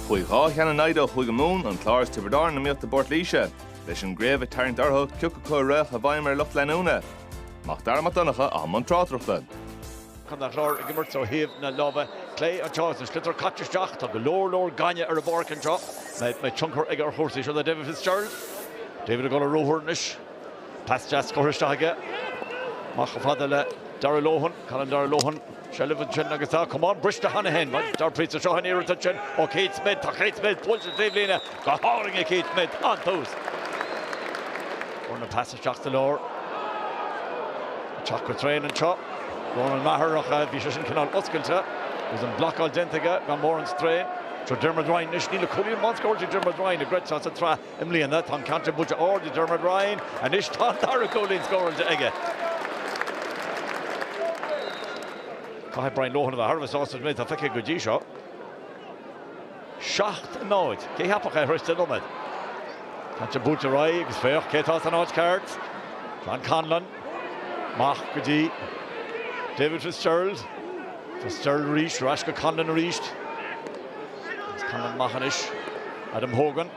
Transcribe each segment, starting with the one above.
Chuaigh dhá cheann in aghaidh ó Chúige Mumhan, an Clár is Tiobraid Árann in iomaíocht i bPort Laoise. Leis an gcraobh ag tarraingt orthu, cioc acu a rachadh i bhfeidhm ar lucht leanúna Mac Dara Mac Donncha i mbun tráchtaireachta. Contae an Chláir ag imirt ó thaobh na láimhe clé anseo is an sliotar caite isteach. Tá go leor, leor gainimh ar an bpáirc anseo. Beidh tionchar aige ar chúrsaí seo é David Fitzgerald. David ag dul ar ruathar anois. Pas deas curtha isteach aige. Amach chomh fada le Darragh Lohan. Cailleann Darragh Lohan seilbh ansin agus tá camán briste cheana féin ag Darragh Price. Seo an iarracht ansin ó Keith Smith. Tá Keith Smith buailte sa taobhlíne go hard ag Keith Smith. An-tús. Fuair na pas isteach sa lár. Ag teacht go tréan anseo. Ronan Maher ach bhí sé sin cineál oscailte agus an blocáil déanta aige gan mórán stró. Seo Diarmuid Ryan anois. Níl ach cúilín amháin scóráilte ag Diarmuid Ryan go dtí seo sa tsraith. I mbliana, tá an ceann seo buailte ard ag Diarmuid Ryan. Anois tá an dara cúilín scóráilte aige. Caithfidh Brian Lohan a bheith thar a bheith sásta leis an méid atá feicthe aige go dtí seo. Seacht náid. Cé cheapfadh é tar éis deich nóiméad? Tá sé buailte ar aghaidh agus féach cé atá san áit cheart. John Conlon. Amach go dtí David Fitzgerald. Fitzgerald arís, ar ais go Conlon arís. Is Conlon amach anois. Adam Hogan.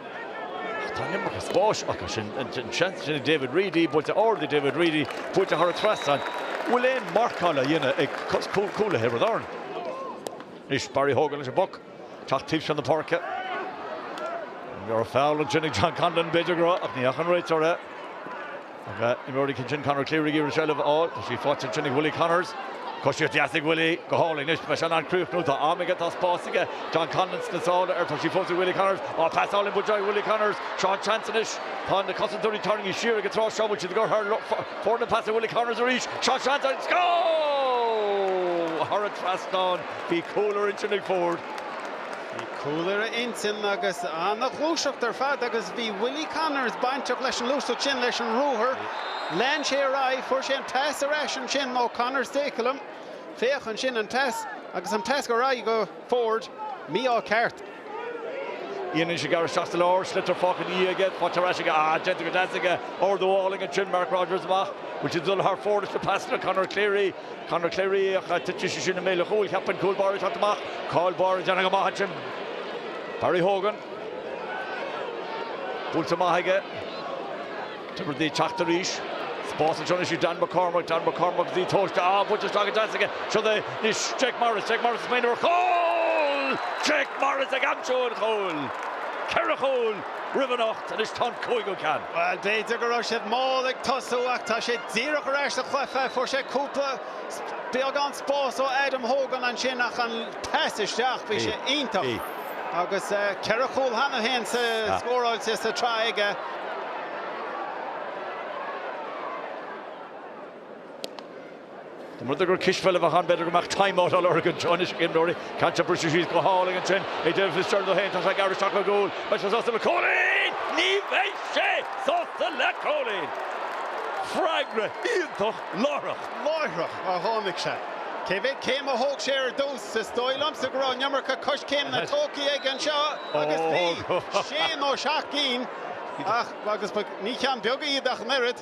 Tá an iomarca spáis acu sin. An seans sin ag David Reidy, buailte ard ag David Reidy, buailte thar an trasnán. An bhfuil aon mharcáil á dhéanamh ag cúlaithe Thiobraid Árann? Anois Barry Hogan leis an bpoc, teacht taobh seo na páirce. Ní raibh feall ansin ag John Conlon, b'fhéidir go raibh ach ní fhaca an réiteoir é. Ag imreoirí cinn sin Conor Cleary ag iarraidh seilbh a fháil. Tá sí faighte ansin ag Willie Connors. Coisíocht dheas ag Willie. Go hálainn. Anois an mbeidh sé in ann críochnú. Tá am aige. Tá spás aige. John Conlon sna sála air. Tá sí fós ag Willie Connors. Á, pas álainn buailte ag Willie Connors. Seo an seans anois. Tá na cosantóirí tarraingthe siar aige tráth seo. Bhfuil siad ag dul thar fóir leis na pasanna, Willie Connors arís. Seo an seans agus go! Thar an trasnán. Bhí cúl ar intinn ag Forde. Bhí cúl ar a intinn agus an-ghluaiseacht ar fad agus bhí Willie Connors bainteach leis an ngluaiseacht sin, leis an ruathar. Lean sé ar aghaidh, fuair sé an pas ar ais ansin ó Conor Stakelum, féach ansin an pas agus an pas ar aghaidh go Forde, mí-ádh ceart. Déanann sé gearradh isteach sa lár, sliotar fágtha ina dhiaidh aige, faighte ar ais aige, ah, déanta go deas aige, ardú álainn ansin, Mark Rodgers amach, bhfuil siad ag dul thar fóir leis na pasanna, Conor Cleary, Conor Cleary, titfidh sé sin i mbéal an chúil. Caithfidh an cúl báire a theacht amach. Cúl báire, déanta go maith ansin. Barry Hogan. Buailte amach aige. Tiobraid Árann ag teacht arís. Spás anseo anois ag Dan McCormack. Dan McCormack go dtí Tóirse. Á, buailte isteach go deas aige. Sin é anois Jake Morris. Jake Morris is maoiniúr chúl! Jake Morris ag aimsiú an chúil. Ceithre chúl roimh anocht anois tá an cúigiú ceann. Bhuel, b'fhéidir go raibh siad mall ag tosú ach tá sé díreach ar ais sa chluiche. Fuair sé cúpla, beagán spás ó Adam Hogan ansin ach an pas isteach, bhí sé iontach agus ceithre chúl cheana féin scóráilte sa tsraith aige. Dá mba rud é gur cispheil a bheadh ann b'fhéidir go mbeadh time out á lorg anseo anois ag imreoirí. Caithte briseadh síos go hálainn ansin ag déanamh na stiúrtha féin. Tá sé ag gearradh isteach ar an gcúl. Beidh sé sásta le cúilín! Ní bheidh sé sásta le cúilín! Freagra iontach láithreach. Láithreach a tháinig sé. Cé mhéad céim a thóg sé ar dtús? Is dóigh liomsa go raibh an iomarca coiscéimeanna tógtha aige anseo agus bhí sé nó seacht gcinn acu agus ní cinn bheaga iad ach an oiread.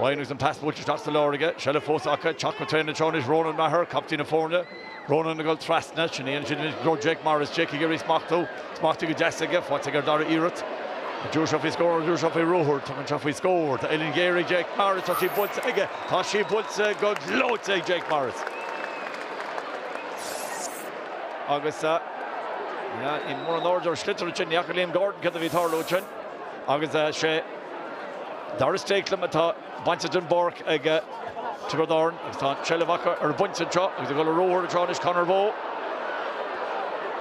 Agus an pas buailte isteach sa lár aige, seilbh fós acu, Teacht go tréan anseo anois Ronan Maher, captaen na foirne, Ronan ag dul trasna, sin a dhéanann siad anois go dtí Jake Morris, Jake ag iarraidh smachtú, smachtaithe go deas aige, faighte aige ar dara iarraidh. An dtabharfaidh sé faoi scór, an dtabharfaidh sé faoi ruathar, tugann sé faoi scór ó uillinn ghéar, Jake Morris, tá sí buailte aige, tá sí buailte go gleoite ag Jake Morris. Agus, ní mórán airde ar sliotar ansin, ní fhaca Liam Gordon céard a bhí ag tarlú ansin. Agus sé Darragh Stakelum atá bainte den bpáirc ag Tiobraid Árann agus tá an tseilbh acu ar an bpointe anseo agus ag dul ar ruathar anseo anois Conor Bowe.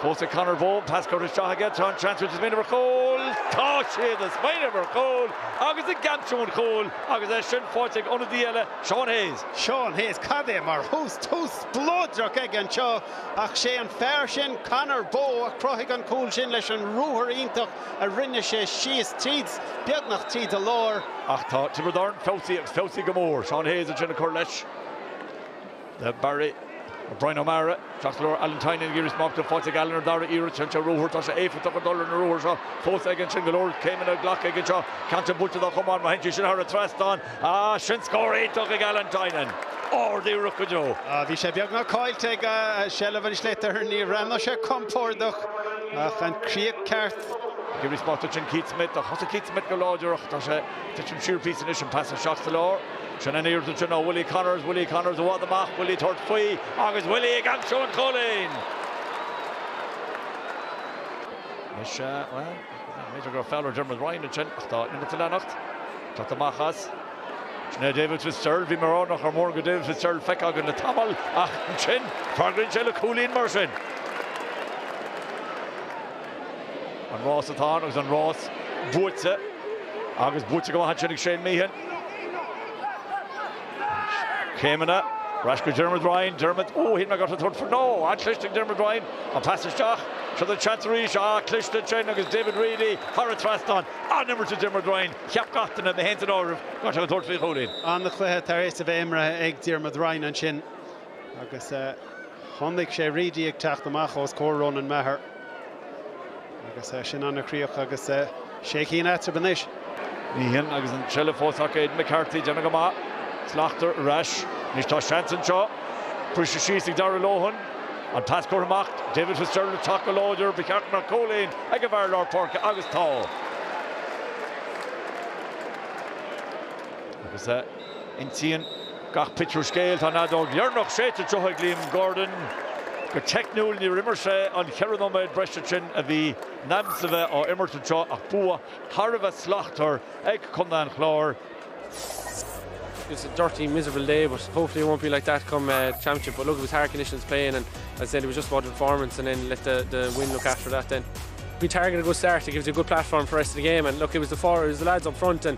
Fós ag Conor Bowe, pas curtha isteach aige, tá an seans roimhe, smaoineamh ar chúl! Tá sé ag smaoineamh ar chúl agus ag aimsiú an chúil agus é sin faighte ag ionadaí eile, Seán Hayes. Seán Hayes, cad é mar thús, tús spleodrach aige anseo ach sé an fear sin, Conor Bowe, a chruthaigh an cúl sin leis an ruathar iontach a rinne sé síos tríd, beagnach tríd a lár. Ach tá Tiobraid Árann feabhsaithe agus feabhsaithe go mór. Seán Hayes ansin ag cur leis dá bharr. Bryan O'Mara, isteach sa lár. Alan Tynan ag iarraidh smachtú, faighte ag Alan ar dara iarracht. Téann sé ar ruathar. Tá sé éifeachtach ag dul ar na ruathair seo fós aige ansin. Go leor céimeanna glactha aige anseo. Cinnte buailte dá chamán. Má théann sé sin thar an trasnán. Ach sin scór iontach ag Alan Tynan. Ardiarracht go deo. Bhí sé beagnach caillte aige seilbh an tsliotair. Níor bhreathnaigh sé compordach ach an críoch ceart. Gibney spotted sin Keith Smyth ach thosaigh Keith Smyth go láidir ach tá sé tite siar píosa anois an pas isteach sa lár. Sin an iarracht sin ó Willie Connors. Willie Connors i bhfad amach. Willie ag tabhairt faoi agus Willie ag aimsiú an chúilín. Anois, bhuel. B'fhéidir go raibh feall ar Diarmuid Ryan ansin ach tá an imirt ag leanacht. Caite amach as. Sin é David Fitzgerald. Bhí mé ag rá nach raibh mórán de David Fitzgerald feicthe againn le tamall ach ansin freagraíonn sé le cúilín mar sin. An rás atá ann agus an rás buaite agus buaite go maith ansin ag Shane Meehan. Céimeanna ar ais go Dermot Ryan. Dermot, Ó, shíl mé go dtabharfadh faoi. No! An-chliste ag Dermot Ryan an pas isteach. Seo an seans arís. Ah, cliste ansin agus David Reidy thar an trasnán. An-imirt ag Dermot Ryan. Cheap gach duine, mé fhéin san áireamh, go mbeadh sé ag tabhairt faoi chúilín. An-chluiche tar éis a bheith imeartha ag Dermot Ryan ansin. Agus chonaic sé Reidy ag teacht amach ós comhair Ronan Maher. Agus sin ana chríoch agus sé cinn eatarthu anois. Ní hamháin sin agus an tseilbh fós acu. Aidan McCarthy, ag déanamh go maith. Slachter ar ais. Anois tá seans anseo. Briste síos ag Darragh Lohan. An pas curtha amach. David Fitzgerald ag teacht go láidir. Ba cheart go mbeadh cúilín ag an bhfear lár páirce agus tá. Agus. Insíonn gach pictiúr scéal. Tá an fheadóg dheireanach séidte anseo ag Liam Gordon. Go teicniúil níor imir sé an cheithre nóiméad breise sin a bhí Nams a bheith á imirt anseo ach bua thar a bheith slachtmhar ag contae an Chláir. It's a dirty miserable day but hopefully it won't be like that come championship but look it was hard conditions playing and as I said it was just about the performance and then let the, the win look after that then. We targeted a good start, it gives you a good platform for the rest of the game and look it was the forwards, the lads up front and